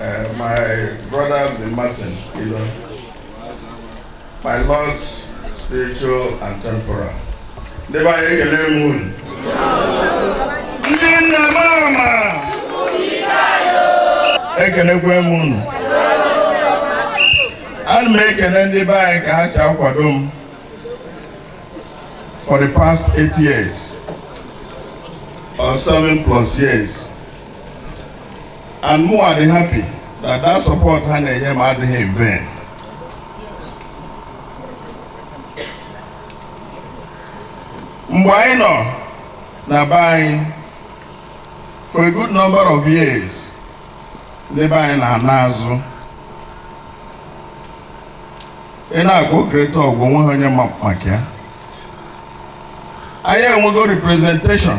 Uh, my brother the Martin Ilo, my Lords spiritual and temporal. Ndị be anyị ekele m unu. Ndị nne mama. Ekelekwe m unu. Ana m ekele ndị be anyị ka ha si akwado m for the past eight years or seven plus years. and mụ adị happy that that support ha na-enye m adịghị in vain mgbe anyị nọ na be anyị for a good number of years ndị be anyị na-ana azụ ị na-agụ Greater Awgu o nweha onye ma maka ya anyị enwego representation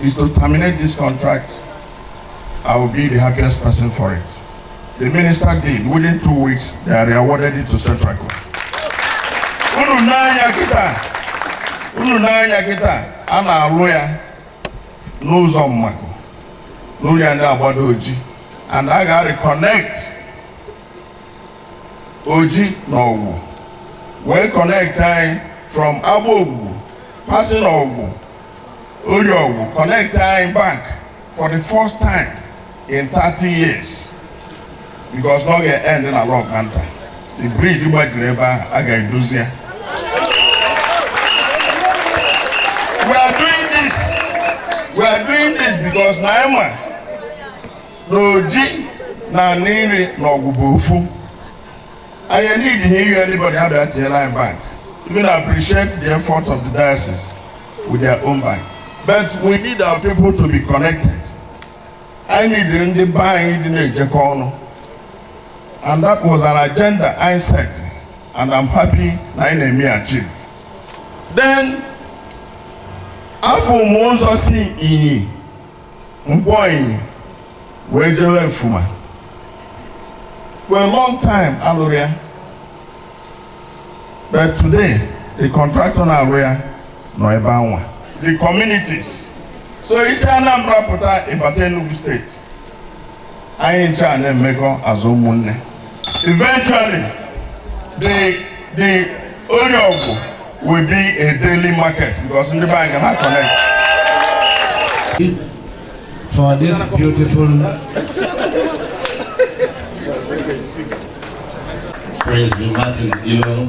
is to terminate this contract, I will be the happiest person for it. The minister did. Within two weeks, they re-awarded it to Setraco. Unu na-anya kịta, unu na-anya kịta, a na-alụ ya n'ụzọ Mmaku, na-alụ ya na-agbado Oji, and a ga-reconnect Oji na Awgu, wee connect anyị from Agbogugu, passing Awgu Orie Awgu connect anyị back for the first time in 30 years because na ọ ga-end na Lokpanta the bridge gbajiri ebe ahụ a ga-edozi ya we are doing this because na anyị ma na Oji na Aninri na Awgu bụ ofu anyị enidi ha ihe anybody ha bịa tinyere anyị bank even appreciate the effort of the diocese with their own bank but we need our people to be connected I need ndị be anyị dị na-ejekọ ọnụ and that was an agenda I set and I'm happy na anyị na-eme achieve then afụ m ụzọ si Inyi Nkwọ Inyi wee jewe Ufuma for a long time alụrọ ya but today the contractor na-alụ ya nọ ebe anwa the communities so i si Anambra pụta ị bata Enugu steeti anyị ncha na-emekọ as ụmụnne eventually the the Orie Awgu will be a daily market because ndị be anyị ga na-connect for this beautiful Prince Martin Ilo.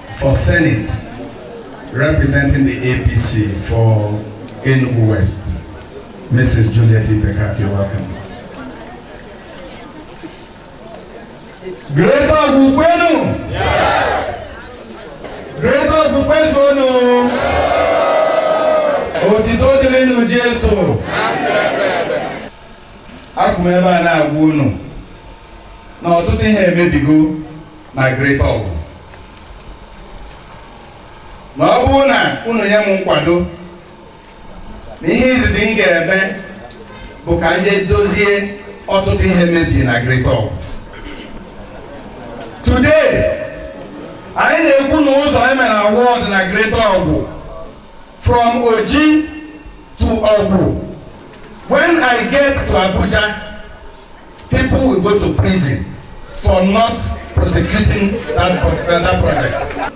For Senate, representing the APC for Enugu West, Mrs. Juliet Ibekaku, you're welcome. Greater Awgu kwenu! Greater Awgu kwenu! Otito dịrịnụ Jesu! Akwụ m ebe a na-agwa unu na ọtụtụ ihe emebigo na Greater Awgu ma ọ bụrụ na unu nye m nkwado na ihe izizi m ga-eme bụ ka m je dozie ọtụtụ ihe mebiri na Greater Awgu today anyị na-ekwu na ụzọ emere award na Greater Awgu from Oji to Awgu when I get to Abuja People will go to prison for not prosecuting that, uh, that project.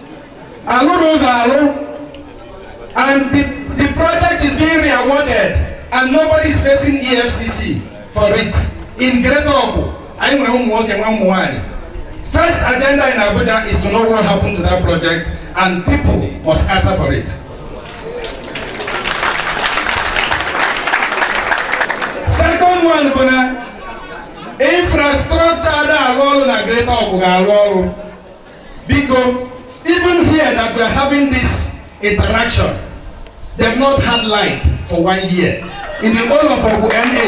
Alụrọ ụzọ alụ and the, the project is being re-awarded and nobody is facing EFCC for it. In Greater Awgu, anyị nwere ụmụ nwoke nwee ụmụ nwanyị. First agenda in Abuja is to know what happened to that project and people must answer for it. second one bụ na infrastructure ada arụ ọrụ na Greater Awgu ga-arụ ọrụ because even here that we are having this interaction they've not had light for one year in the whole of Awgu NA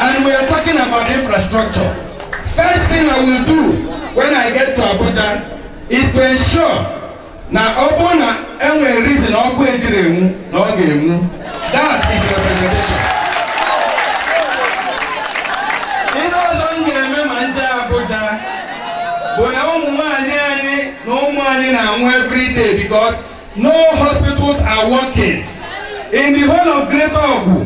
and we are talking about infrastructure first thing I will do when I get to Abuja is to ensure na ọ bụrụ na enwere reason ọkụ ejirọ enwu na ọ ga-enwu that is representation ihe ọzọ m ga-eme ma m je Abuja bụ na ụmụ nwanyị anyị na ụmụ anyị na-anwụ every day because no hospitals are working in the whole of Greater Awgu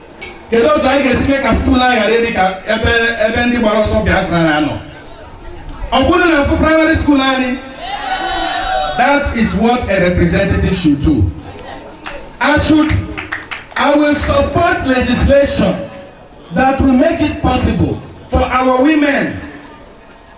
kedu otu anyị ga-esi mee ka skuul anyị ghara ịdị ka ebe ebe ndị gbara ọsọ Biafra na-anọ ọ bụrụ na afụ praịmarị skuul anyị that is what a representative should do I should I will support legislation that will make it possible for our women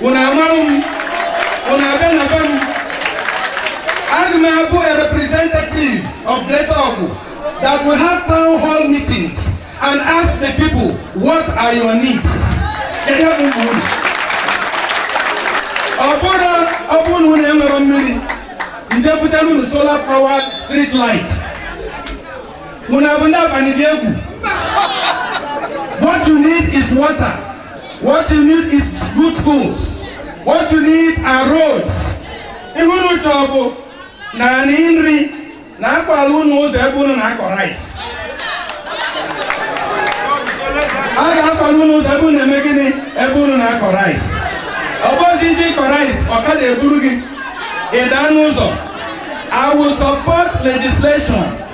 unu amarụ m unu abịa na be m aga m abụ a representative of Greater Awgu that will have town hall meetings and ask the people what are your needs kedu ebe ugwu unu ọ bụrụ ọ bụrụ na unu enwerọ mmiri m je butara unu solar power street light unu abụ ndị abalị dị egwu what you need is water What you need is good schools. What you need are roads. Ihe unu chọọ bụ naanị nri na akwala unu ụzọ ebe unu na-akọ rice. A ga-akwala unu ụzọ ebe unu na-eme gịnị ebe unu na-akọ rice. Ọ bụzi ị je ịkọ rice ọkada eburu gị ị daa n'ụzọ. I will support legislation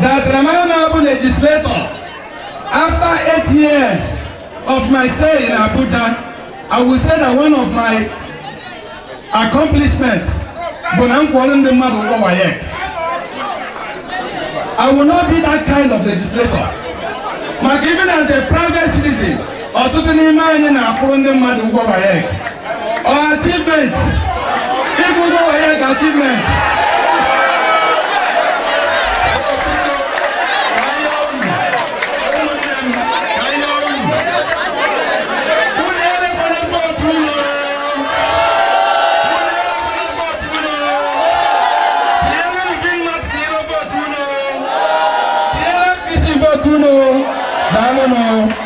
that am I now a legislator? After eight years of my stay in Abuja, I will say that one of my accomplishments bụ na m kwụrụ ndị mmadụ ụgwọ WAEC. I will not be that kind of legislator. But even as a private citizen, ọtụtụ n'ime anyị na-akwụrụ ndị mmadụ ụgwọ WAEC achievement ịkwụ ụgwọ WAEC achievement Daalụ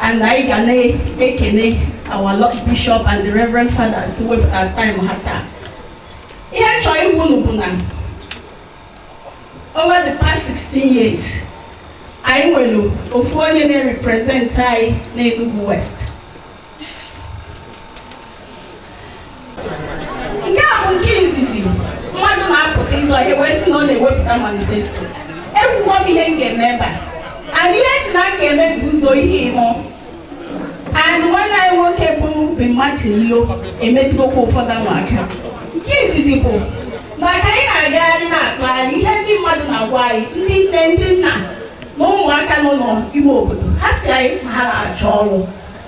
and anyị ga na-ekene our Lord Bishop and the Reverend Fathers wepụtara time ha taa ihe a chọọ ịgwa unu bụ na over the past 16 years anyị nwere ofu onye na-represent anyị na Enugu West nke a bụ nke izizi mmadụ na-apụta ịzọ ihe wee sị na ọ na-ewepụta manifesto ekwugo m ihe m ga-eme ebe a and ihe m sị na m ga-eme bụ ụzọ ihe ịmụ and nwanne anyị nwoke bụ Ben Martin Ilo emetụrụkwa ụfọdụ ha aka nke izizi bụ na ka anyị na-agagharị na-akpagharị ihe ndị mmadụ na-agwa anyị ndị nne ndị nna na ụmụaka nọ n'ime obodo ha sị anyị na ha na-achọ ọrụ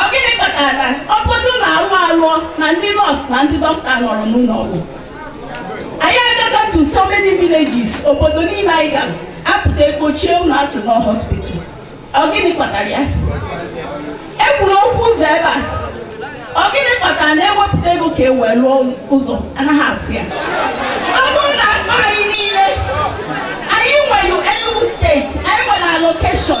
ọ gịnị kpatara ọ bụdụ na alụ alụọ na ndị nọọsụ na ndị dọkịta anọrọ n'ụlọ ọgwụ anyị agago to so many villages obodo niile anyị gara a pụta e gbochie ụlọ a sị na ọ hospital ọ gịnị kpatara ya e kwuru okwu ụzọ ebe a ọ gịnị kpatara na e wepụta ego ka e wee lụọ ụzọ a naghị afụ ya ọ bụrụ na akpa anyị niile anyị nwere Enugu steeti anyị nwere allocation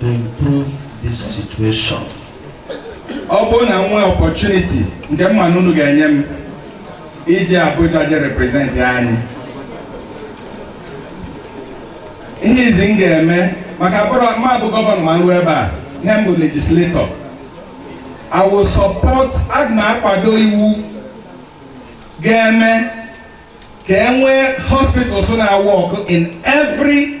to improve this situation. ọ bụrụ na m nwee opportunity nke m ma na unu ga-enye m ije Abuja je represent anyị ihe izizi m ga-eme maka abụrọ m abụ gọvanọ ma m ruo ebe a ihe m bụ legislator I will support aga m akwado iwu ga-eme ka e nwee hospitals na-awork in every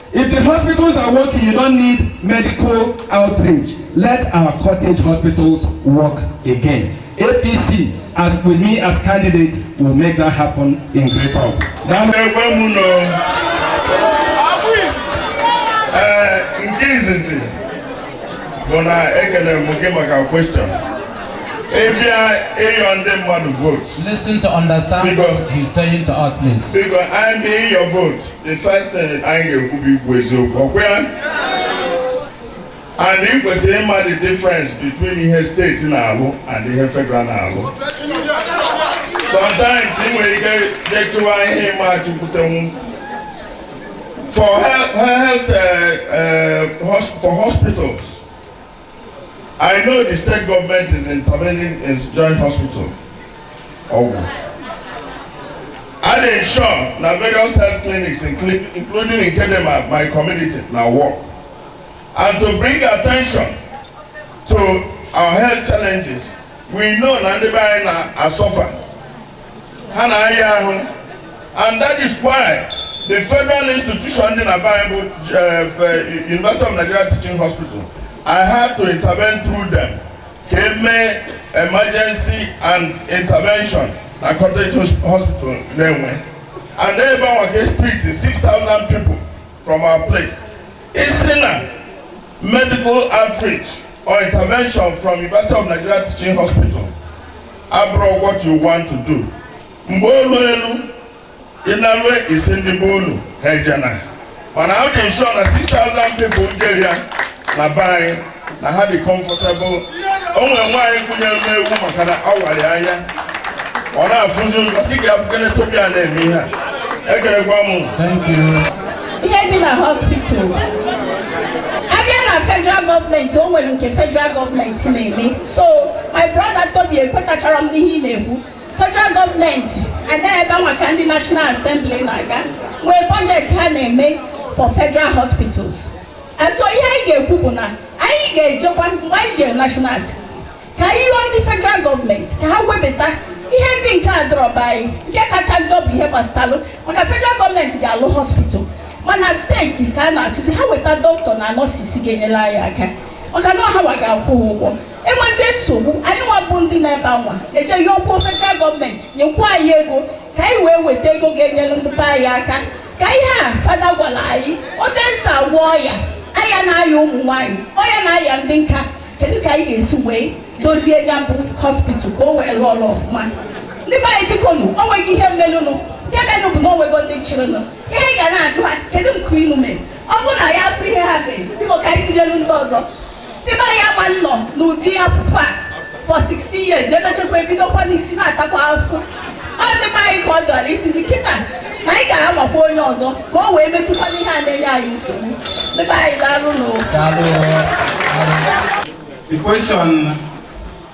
If the hospitals are working, you don't need medical outreach. Let our cottage hospitals work again. APC, as with me as candidate, will make that happen in Great Hope. nke izizi bụ na ekele m gị maka kwestion ịbịa ịyọ ndị mmadụ vote. Listen to understand what he's saying to us, please. Biko, I'm ịyọ vote. the first thing anyị ga-ekwu bụ ikwu eziokwu ọ kwa ya and ị kwesịrị ịma the difference between ihe steeti na-alụ and ihe federal na-alụ sometimes ị nwere ike detuwa ihe ị ma-achụkwutenwu for health, health uh, uh, for hospitals I know the state government is intervening in the joint hospital. Ọgwụ. I dey sure na various health clinics including including in Kedema, my community na work. And to bring attention to our health challenges, we know na ndị be anyị na-asọfa ha na-ayị ahụ and that is why the federal institution dị na be anyị bụ eh, eh, University of Nigeria Teaching Hospital I had to intervene through them ka e mee emergency and intervention na cottage hospital Nenwe and ebe anwa ka e si treat 6,000 people from our place e si na medical outreach or intervention from University of Nigeria Teaching Hospital abụrọ what you want to do mgbe o luelu ị nalue ị sị ndị be unu ha ejena mana ọ dị m ụsọ na 6000 people jere ya na be anyị na ha dị comfortable o nwere nwaanyị gụnyere m egwu maka na a wara ya anya ọ na-afụzi ụzọ sị ka ya fụkene Tobi a na-eme ihe a ekelekwa m Thank you. ihe dị na hospital a bịa na federal gọọmenti o nwere nke federal gọọmenti na-eme so my brother Tobi ekwetachara m n'ihe ị na-ekwu federal gọọmenti aga ebe anwa ka ndị National Assembly na-aga nwee bọjetị ha na-eme for federal hospitals and so ihe anyị ga-ekwu bụ na anyị ga-ejekwa mgbe anyị jere national ka anyị yọọ ndị federal gọọmenti ka ha webata ihe ndị nke adịrọ be anyị nke kacha njọ bụ ihe gbasatalụ maka federal gọọmenti ga-alụ hospital mana steeti ka a na-asịzi ha weta dọkịta na nọọsụ ga-enyere anyị aka maka na ọ hanwa ga-akwụ ụgwọ e nwezie nsogbu anyị nwa bụ ndị nọ ebe anwa ejee yọọkwu federal gọọmenti nyekwa anyị ego ka anyị wee weta ego ga-enyere ndị be anyị aka ka ihe a fada gwara anyị otu e si agwọ ọya ọya na-aya ụmụ nwaanyị ọya na-aya ndị nka kedu ka anyị ga-esi wee dozie ya bụ hospital ka o wee rụọ ọrụ ọfụma ndị be anyị bikonụ o nweghị ihe melụnụ nke menụ bụ na o nwego ndị chịrịnụ ihe anyị ga na-ajụ ha kedu nke unu mere ọ bụrụ na anyị afụghị ihe ha mere biko ka anyị bidoro ndị ọzọ ebe anyị agba nnọ n'ụdị afụfụ a for 16 years e mechakwa ebidokwa n'isi na-atakwa afụfụ ọ dịkwa anyị ka ọ dọrọ isizi kịta na anyị ga-anwakwa onye ọzọ ka o wee metụkwa ihe a na-enye anyị nsogbu ebe anyị ga-arụ n'ụwa The question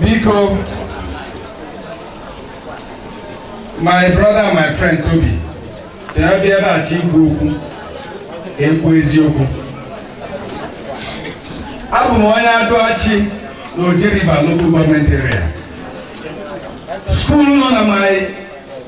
biko my brother and my friend Tobi sị ya a bịa be Chi ikwu okwu e kwuo eziokwu abụ m onye Adu Achi na Oji River local government area skuul nọ na my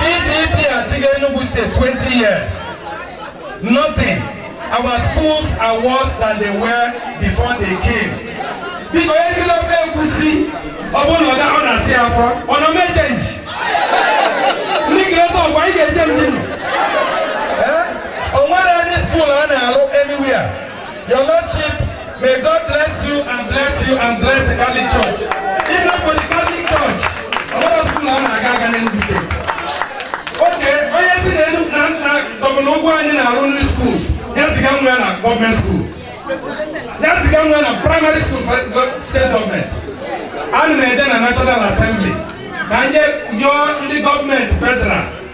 PDP achịga Enugu State 20 years. Nothing. Our schools are worse than they were before they came. Biko onye rigide ofe egwusi ọ bụrụ na ọ ga- ọ na-asa ya afọ ọ na-eme chenji. Ndị Greater Awgu anyị ga-echenji nụ. Eh? O nwere any skuul a na-alụ anywhere. Your Lordship, may God bless you and bless you and bless the Catholic Church. If not for the Catholic Church, ọ nwerọ school na-aga aga in the state. Okay, onye si na elu na nna gọvanọ Ugwuanyi na-arụ new schools ya ziga nwa ya na gọọmenti school ya ziga nwa ya na primary school for the state government ana m eje na national assembly ka anyị yọọ ndị gọọmenti federal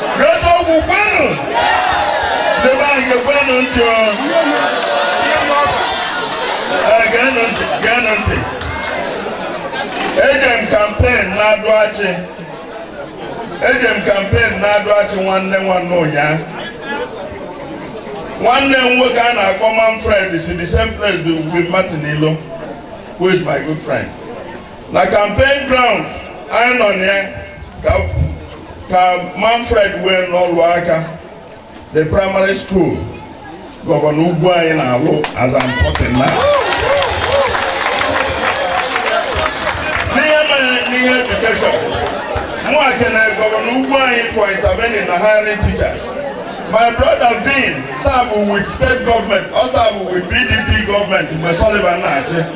eziokwu kwenụ debe anyị gekwenụ ntị o. Ee, geenụ ntị geenụ ntị eje m kampen n'Adụ Achị eje m kampen n'Adụ Achị nwanne nwanne ụnyaa nwanne m nwoke a na-akpọ Manfred si the same place with Martin Ilo who is my good friend na campaign ground anyị nọ na ya ka Manfred wee na-alụ aka the primary school gọvanọ Ugwuanyi na-alụ as I'm talking now n'ihe mere n'ihe edukeshọn m na-ekene gọvanọ Ugwuanyi for intervening na hiring teachers my brother Vin serve with state government ọ serve with PDP government mgbe Sullivan na-achị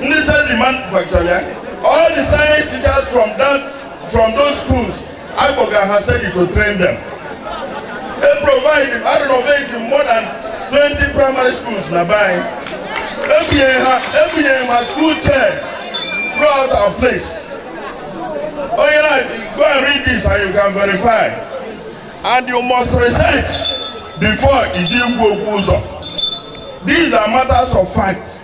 ndị SEDI manufacture ya all the science teachers from that from those schools akpọga ha SEDI to train them e provide a renovate more than 20 primary schools na be anyị ebunyere ha ebunyere ha school chairs throughout our place onye na go and read this and you can verify and you must research before i je ekwu okwu ọzọ these are matters of fact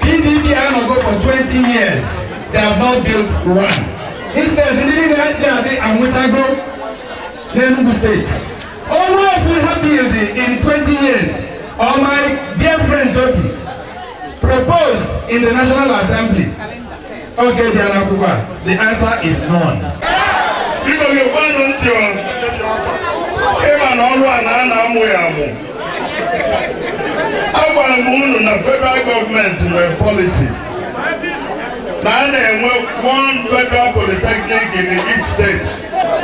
PDP anọgo for 20 years they have not built one instead ndị niile dị adị anwụchago n'Enugu steeti o nwe ofu ha build in 20 years or my dear friend Toby proposed in the National Assembly Okay bịa n'akwụkwọ a, the answer is none. Biko gekwanụ ntị ọ ị ma na ọrụ a na a na-amụ ya amụ. Agwara m unu na federal gọọmenti nwere policy na a na-enwe one federal polytechnic in each state.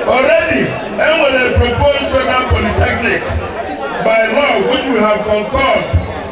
Already, e nwere proposed federal polytechnic by law which we have concurred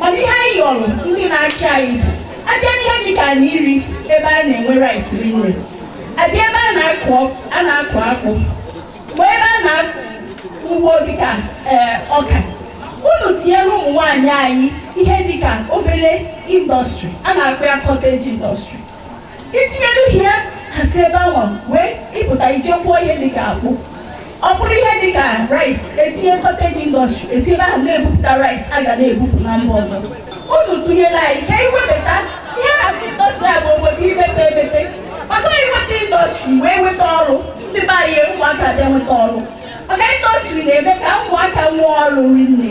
mana ihe anyị yọrọ ndị na-achị anyị a bịa n'ihe dị ka Aninri ebe a na-enwe rice rinne a bịa ebe a na-akụ a na-akụ akpụ mgbe ebe a na-akọ ugbo dịka ee ọka unu tinyere ụmụ nwaanyị anyị ihe dịka obere indọstrị a na-akpọ ya cottage indọstrị itinyelu ihe ha si ebe ahụ wee ịpụta ije kwụọ ihe dịka akpụ ọ bụrụ ihe dịka rice e tinye cottage industry e si ebe ahụ na-ebupụta rice a ga na-ebupụ na mba ọzọ unu tụnyere anyị ka iwebata ihe na industry a bụ obodo imepe emepe maka iweta industry wee nweta ọrụ ndị be anyị ụmụaka bịa nweta ọrụ maka industry na-eme ka ụmụaka nwee ọrụ rinne